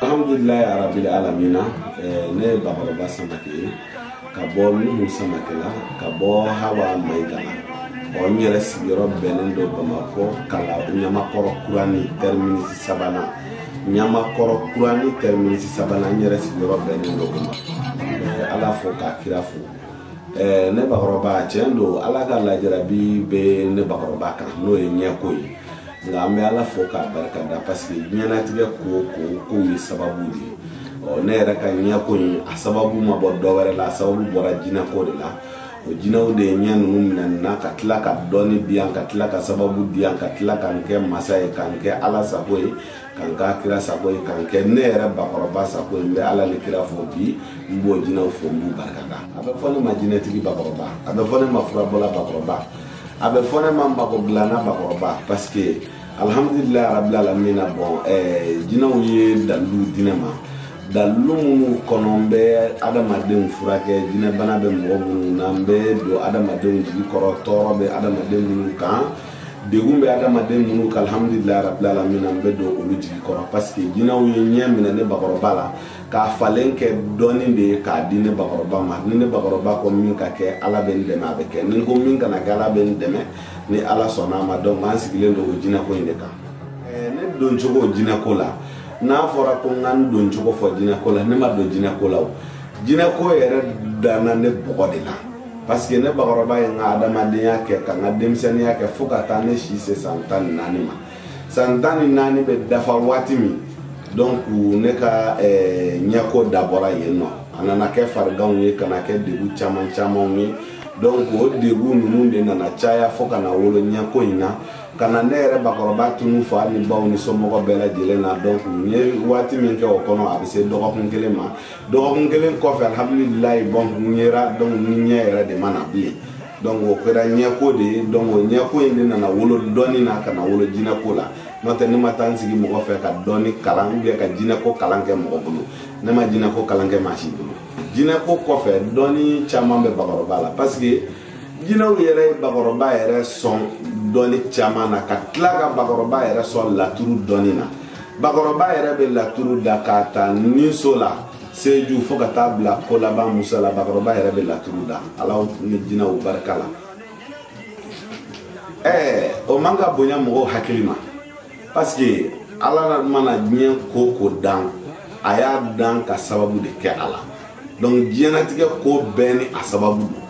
alhamdulillah ya rabbil alamina eh, ne ye bakɔrɔba samake ye ka bɔ nuhu samake la ka bɔ hawa mayiga la ɔ n yɛrɛ sigiyɔrɔ bɛnnen don bamakɔ kala ɲamakɔrɔ kurani tɛriminisi sabanan ɲamakɔrɔ kurani tɛriminisi sabanan n yɛrɛ sigiyɔrɔ bɛnnen don o ma eh, ala fo k'a kira fo eh, ne bakɔrɔba tiɲɛ don ala ka lajarabi bɛ ne bakɔrɔba kan n'o ye ɲɛko ye nka an bɛ ala fo k'a barika da parce que diɲɛnatigɛ ko o ko kow ye sababu de ye ɔ ne yɛrɛ ka ɲɛko in a sababu ma bɔ dɔ wɛrɛ la a sababu bɔra jinɛko de la o jinɛw de ye ɲɛ ninnu minɛ n na ka tila ka dɔnni di yan ka tila ka sababu di yan ka tila ka n kɛ masa ye ka n kɛ ala sago ye ka n k'a kira sago ye ka n kɛ ne yɛrɛ bakɔrɔba sago ye n bɛ ala ni kira fo bi n b'o jinɛw fo n b'u barika da a bɛ fɔ ne ma jinɛtigi bakɔrɔba a bɛ fɔ ne ma furabɔla bakɔrɔba a bɛ fɔ ne ma n bako bila n'a bakɔrɔba parce que alhamdulilayi rabil alamina bon eh, jinɛw ye dalilu di ne ma dalilu minnu kɔnɔ n bɛ adamadenw furakɛ jinɛbana bɛ mɔgɔ minnu na n bɛ don adamadenw jigi kɔrɔ tɔɔrɔ bɛ adamaden minnu kan degun bɛ adamaden minnu kan alhamdulilayi rabil alamina n bɛ don olu jigi kɔrɔ parce que jinɛw ye ɲɛ minɛ ne bakɔrɔba la k'a falen kɛ dɔnni de ye k'a di ne bakɔrɔba ma ni ne bakɔrɔba ko min ka kɛ ala bɛ n dɛmɛ a bɛ kɛ ni n ko min kana kɛ ala bɛ n dɛmɛ ni ala sɔnna a ma donc an sigilen don o jinɛko in de kan ne don cogo jinɛko la n'a fɔra ko n ka n don cogo fɔ jinɛko la ne ma don jinɛko la o jinɛko yɛrɛ danna ne bɔgɔ de la parce que ne bakɔrɔba ye n ka adamadenya kɛ ka n ka denmisɛnninya kɛ fo ka taa ne si se san tan ni naani ma san tan ni naani bɛ dafa waati min donc ne ka eh, ɲɛko dabɔra yen nɔ a nana kɛ fariganw ye ka na kɛ degun caman camanw ye donc o degun ninnu de nana caya fo ka na wolo ɲɛko in na ka na ne yɛrɛ bakɔrɔba tunun fo hali ne baw ni somɔgɔ bɛɛ lajɛlen na donc n ye waati min kɛ o kɔnɔ a bɛ se dɔgɔkun kelen ma dɔgɔkun kelen kɔfɛ alhamdulilayi bon n yera donc n ɲɛ yɛrɛ de ma na bilen donc o kɛra ɲɛko de ye donc o ɲɛko in de nana wolo dɔnni na ka na wolo jinɛko la n'o tɛ ne ma taa n sigi mɔgɔ fɛ ka dɔnni kalan ou bien ka jinɛko kalan kɛ mɔgɔ bolo ne ma jinɛko kalan kɛ maa si bolo jinɛko kɔfɛ dɔnni caman bɛ bakɔrɔba la parce que jinɛw yɛrɛ ye bakɔrɔba yɛrɛ sɔn dɔnni caman na ka tila ka bakɔrɔba yɛrɛ sɔn laturu dɔnni na bakɔrɔba yɛrɛ bɛ laturu da k'a ta ninso la seju fo ka taa bila ko laban musa la bakɔrɔba yɛrɛ bɛ laturu da ala ni jinɛw barika la ɛɛ o man ka bonya mɔgɔw hakili ma parce que ala mana diɲɛ ko o ko dan a y'a dan ka sababu de kɛ a la donc diɲɛnatigɛ ko bɛɛ ni a sababu don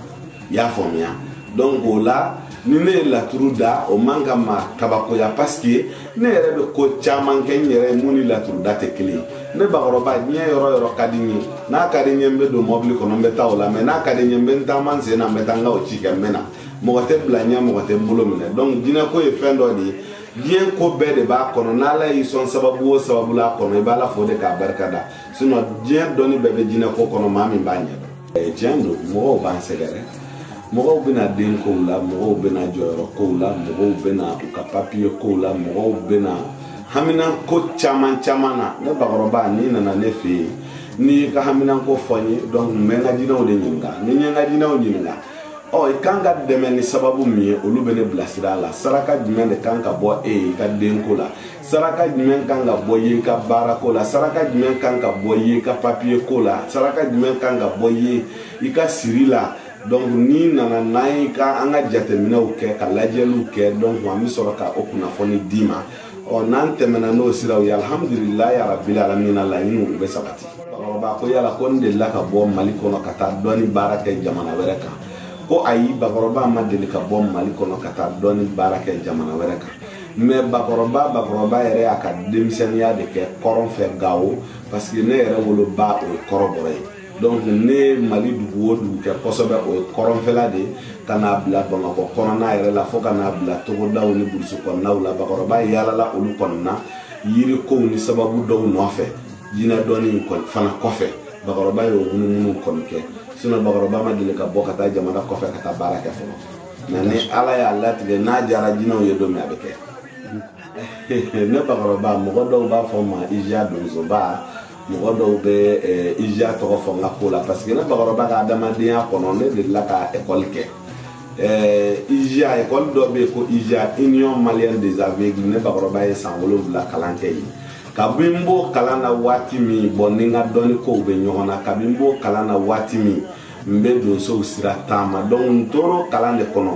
i y'a faamuya donc o la ni ne ye laturu da o man ka maa kabakoya paske ne yɛrɛ bɛ ko caman kɛ n yɛrɛ min ni laturu da tɛ kelen ye ne bakɔrɔba diɲɛ yɔrɔ o yɔrɔ ka di n ye n'a ka di n ye n bɛ don mɔbili kɔnɔ n bɛ taa o la mɛ n'a ka di n ye n bɛ n taama n sen na n bɛ taa n ka o ci kɛ n bɛ na mɔgɔ tɛ bila n ɲɛ mɔgɔ tɛ n bolo minɛ donc jinɛko ye fɛn dɔ de ye diɲɛ ko bɛɛ de b'a kɔnɔ n'ala y'i sɔn sababu o sababu la a kɔnɔ i b'ala fo de k'a barika da sinon diɲɛ dɔnni bɛɛ bɛ jinɛko kɔnɔ maa min b'a ɲɛ tiɲɛ don mɔgɔw b'an sɛgɛrɛ mɔgɔw bɛ na denkow la mɔgɔw bɛ na jɔyɔrɔ kow la mɔgɔw bɛ na u ka papiye kow la mɔgɔw bɛ na haminanko caman caman na ne bakɔrɔba n'i nana ne fɛ yen n'i y'i ka haminanko fɔ n ye donc n bɛ n ka jinɛw de ɲininka ni n ye n ka jinɛw ɲininka ɔ i kan ka dɛmɛ ni sababu min ye olu bɛ ne bilasira a la saraka jumɛn de kan ka bɔ e ye i ka denko la saraka jumɛn kan ka bɔ e ye i ka baara ko la saraka jumɛn kan ka bɔ e ye i ka papiye ko la saraka jumɛn kan ka bɔ e ye i ka siri la donc n'i nana n'an ye ka an ka jateminɛw kɛ ka lajɛliw kɛ donc an bɛ sɔrɔ ka o kunnafoni d'i ma ɔ n'an tɛmɛna n'o siraw ye alihamudulilayi arabili alamina laɲiniw u bɛ sabati bakɔrɔba ko yala ko n delila ka bɔ mali kɔnɔ ka taa dɔnni baara kɛ jamana wɛrɛ kan ko ayi bakɔrɔba ma deli ka bɔ mali kɔnɔ ka taa dɔnni baara kɛ jamana wɛrɛ kan mɛ bakɔrɔba bakɔrɔba yɛrɛ y'a ka denmisɛnninya de kɛ kɔrɔn fɛ gawo parce que ne yɛrɛ woloba o ye kɔrɔbɔrɔ ye donc ne mali dugu o dugu kɛ kosɛbɛ o ye kɔrɔnfɛla de ka n'a bila bamakɔ kɔnɔna yɛrɛ la fo ka n'a bila togodaw ni burusi kɔnɔnaw la bakɔrɔba yaalala olu kɔnɔna yiri kow ni sababu dɔw nɔfɛ jinɛ dɔnni fana kɔfɛ bakɔrɔba y'o munumunu kɔni kɛ sinon bakɔrɔba ma deli ka bɔ ka taa jamana kɔfɛ ka taa baara kɛ fɔlɔ mɛ ni ala y'a latigɛ n'a jara jinɛw ye don min a bɛ kɛ ne bakɔrɔba mɔgɔ dɔw b'a fɔ n ma iziya donsoba mɔgɔ dɔw bɛ eh, iziya tɔgɔ fɔ n ka ko la parce que ne bakɔrɔba ka adamadenya kɔnɔ ne delila ka ekɔli kɛ eh, iziya ekɔli dɔ bɛ yen ko iziya union malienne des aveugles ne bakɔrɔba ye san wolonwula kalan kɛ yen kabi n b'o kalan na waati min bon n ni n ka dɔnni kow bɛ ɲɔgɔn na kabi n b'o kalan na waati min n bɛ donsow sira taama donc n tor'o kalan de kɔnɔ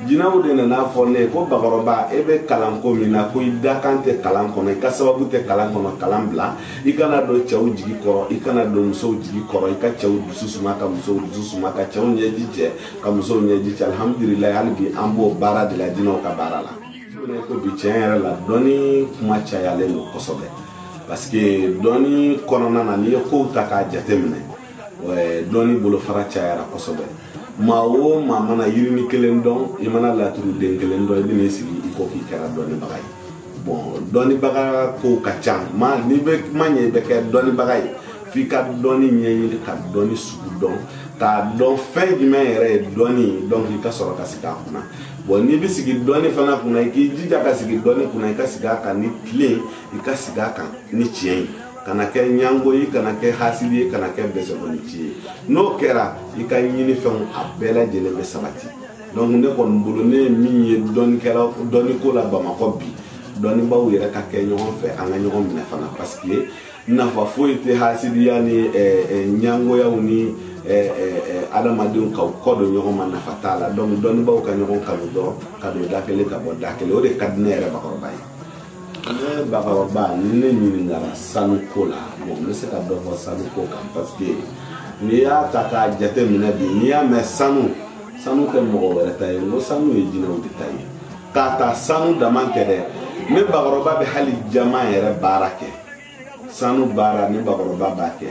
jinɛw de nan'a fɔ ne ye ko bakɔrɔba e bɛ kalan ko min na ko i dakan tɛ kalan kɔnɔ i ka sababu tɛ kalan kɔnɔ kalan bila i ka na don cɛw jigi kɔrɔ i ka na don musow jigi kɔrɔ i ka cɛw dusu suma ka musow dusu suma ka cɛw ɲɛji cɛ ka musow ɲɛji cɛ alihamudulilayi hali bi an b'o baara de la jinɛw ka baara la ko bi tiɲɛ yɛrɛ la dɔnni kuma cayalen don kosɛbɛ parce que dɔnni kɔnɔna na n'i ye kow ta k'a jateminɛ dɔnni bolofara cayara kosɛbɛ maa o maa mana yirini kelen dɔn i mana laturu den kelen dɔn i bɛn'i sigi i ko k'i kɛra dɔnnibaga ye bɔn dɔnnibaga kow ka ca mɛ n'i bɛ kuma ɲɛ i bɛ kɛ dɔnnibaga ye f'i ka dɔnni ɲɛɲini ka dɔnni sugu dɔn k'a dɔn fɛn jumɛn yɛrɛ ye dɔnni ye donc i ka sɔrɔ ka sigi a kunna bɔn n'i bɛ sigi dɔnni fana kunna i k'i jija ka sigi dɔnni kunna i ka sigi a kan ni tile i ka sigi a kan ni tiɲɛ ye kana kɛ ɲango ye kana kɛ hasidi ye kana kɛ bɛsɛkɔnɔci ye n'o kɛra i ka ɲinifɛnw a bɛɛ lajɛlen bɛ sabati donc ne kɔni bolo ne ye min ye dɔnnikɛla dɔnniko la bamakɔ bi dɔnnibaw yɛrɛ ka kɛ ɲɔgɔn fɛ an ka ɲɔgɔn minɛ fana parce que nafa foyi tɛ hasidiya ni eh, eh, ɲangoyaw ni eh, adamadenw ka kɔ don ɲɔgɔn ma nafa t'a la donc dɔnnibaw ka ɲɔgɔn kanu dɔrɔn ka don da kelen ka bɔ da kelen o de ka di ne yɛrɛ bakɔrɔba ye ne bakɔrɔba ni ne ɲininkara sanu ko la bon n bɛ se ka dɔ fɔ sanu ko kan parce que n'i y'a ta k'a jate minɛ bi n'i y'a mɛn sanu sanu tɛ mɔgɔ wɛrɛ ta ye n ko sanu ye jinɛw de ta ye k'a ta sanu dama tɛ dɛ ne bakɔrɔba bɛ hali jaman yɛrɛ baara kɛ sanu baara ne bakɔrɔba b'a kɛ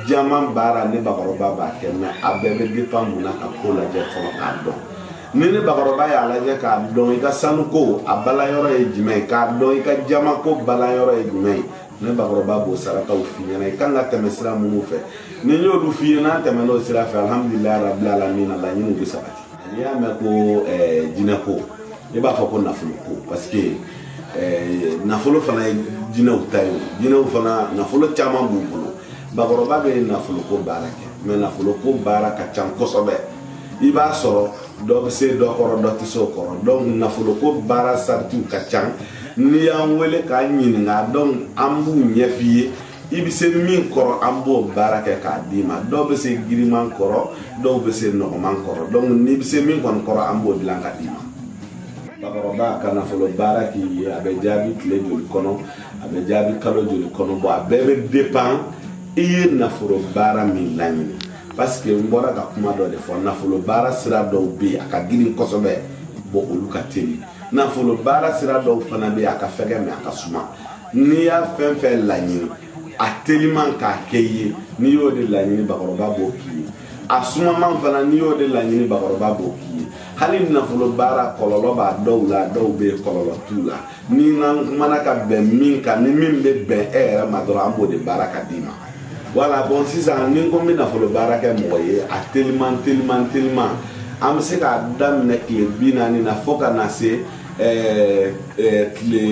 jaman baara ne bakɔrɔba b'a kɛ mɛ a bɛɛ bɛ dépend mun na ka ko lajɛ fɔlɔ k'a dɔn ni ne bakɔrɔba y'a lajɛ k'a dɔn i ka sanu ko a balanyɔrɔ ye jumɛn ye k'a dɔn i ka jaman ko balanyɔrɔ ye jumɛn ye ne bakɔrɔba b'o sarakaw f'i ɲɛna i kan ka tɛmɛ sira minnu fɛ ni n y'olu f'i ye n'an tɛmɛn'o sira fɛ alhamdulilayi rabil alamina laɲiniw bɛ sabati n'i y'a mɛn ko jinɛ ko ne b'a fɔ ko nafolo ko parce que nafolo fana ye jinɛw ta ye jinɛw fana nafolo caman b'u bolo bakɔrɔba bɛ nafolo ko baara kɛ mɛ nafolo ko baara ka ca kosɛbɛ i b'a sɔrɔ dɔ bɛ se dɔ kɔrɔ dɔ tɛ se o kɔrɔ donc nafolo ko baara saritiw ka ca n'i y'an wele k'an ɲininka donc an b'u ɲɛf'i ye i bɛ se min kɔrɔ an b'o baara kɛ k'a d'i ma dɔw bɛ se girinman kɔrɔ dɔw bɛ se nɔgɔman kɔrɔ donc n'i bɛ se min kɔni kɔrɔ an b'o dilan ka d'i ma bakɔrɔba ka nafolo baara k'i ye a bɛ jaabi tile joli kɔnɔ a bɛ jaabi kalo joli kɔnɔ bɔn a bɛɛ bɛ dépend i ye nafolo baara min laɲini parce que n bɔra ka kuma dɔ de fɔ nafolo baara sira dɔw bɛ yen a ka girin kosɛbɛ bɔn olu ka teli nafolo baara sira dɔw fana bɛ yen a ka fɛgɛ mɛ a ka suma n'i y'a fɛn fɛn laɲini a teliman k'a kɛ i ye n'i y'o de laɲini bakɔrɔba b'o k'i ye a sumaman fana n'i y'o de laɲini bakɔrɔba b'o k'i ye hali nafolo baara kɔlɔlɔ b'a dɔw la dɔw bɛ yen kɔlɔlɔ t'u la n'an kumana ka bɛn min kan ni min bɛ bɛn e yɛrɛ ma dɔrɔn an b'o de baara ka d'i ma wala bɔn sisan ni n ko n bɛ nafolo baara kɛ mɔgɔ ye a teliman teliman teliman an bɛ se k'a daminɛ tile bi naani na fo ka na se tile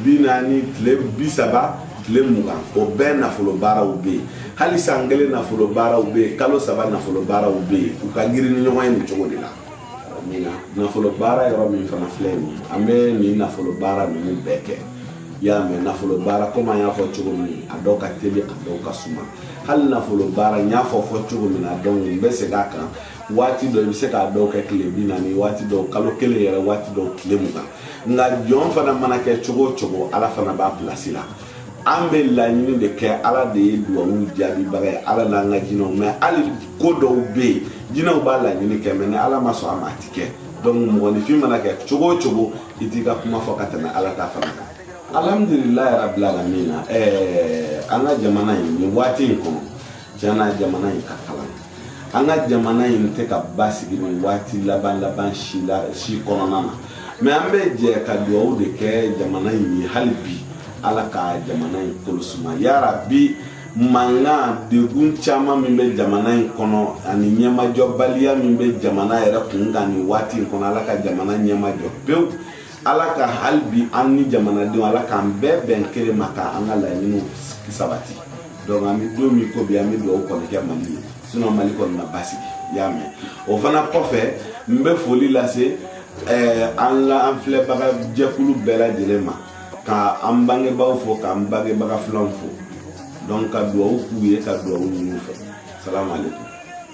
bi naani tile bi saba tile mugan o bɛɛ nafolo baaraw bɛ yen hali san kelen nafolo baaraw bɛ yen kalo saba nafolo baaraw bɛ yen u ka girin ni ɲɔgɔn ye nin cogo de la min na nafolo baara yɔrɔ min fana filɛ nin ye an bɛ nin nafolo baara ninnu bɛɛ kɛ i y'a mɛn nafolo baara komi an y'a fɔ cogo min a dɔw ka teli a dɔw ka suma hali nafolo baara n y'a fɔ fɔ cogo min na donc n bɛ segin a kan waati dɔ i bɛ se k'a dɔw kɛ tile bi naani waati dɔw kalo kelen yɛrɛ waati dɔw tile mugan nka jɔn fana mana kɛ cogo o cogo ala fana b'a pilasi la an bɛ laɲini de kɛ ala de ye duwawu jaabibaga ye ala n'an ka jinɛw mɛ hali ko dɔw bɛ yen jinɛw b'a laɲini kɛ mɛ ni ala ma sɔn a ma a ti kɛ donc mɔgɔninfin mana kɛ cogo o cogo i t'i ka kuma fɔ ka tɛmɛ ala ta fana kan alhamdulilayi rabil alamina ɛɛ an ka jamana in nin waati in kɔnɔ Jana jamana in ka kalan an ka jamana in tɛ ka basigi nin waati laban laban si kɔnɔna na mɛ an bɛ jɛ ka dugawu de kɛ jamana in ye hali bi ala ka jamana in kolo suma yarabi mankan degun caman min bɛ jamana in kɔnɔ ani ɲɛmajɔbaliya min bɛ jamana yɛrɛ kun kan nin waati in kɔnɔ ala ka jamana ɲɛmajɔ pewu ala ka hali bi an ni jamanadenw ala k'an bɛɛ bɛn kelen ma ka an ka laɲiniw sabati donc an bɛ don min ko bi an bɛ dugawu kɔni kɛ mali ye sinon mali kɔni na basigi i y'a mɛn o fana kɔfɛ n bɛ foli lase eh, an la an filɛbaga jɛkulu bɛɛ lajɛlen ma ka an bangebaaw fo k'an bangebaga filanw fo donc ka dugawu k'u ye ka dugawu ɲini u fɛ salamu aleykum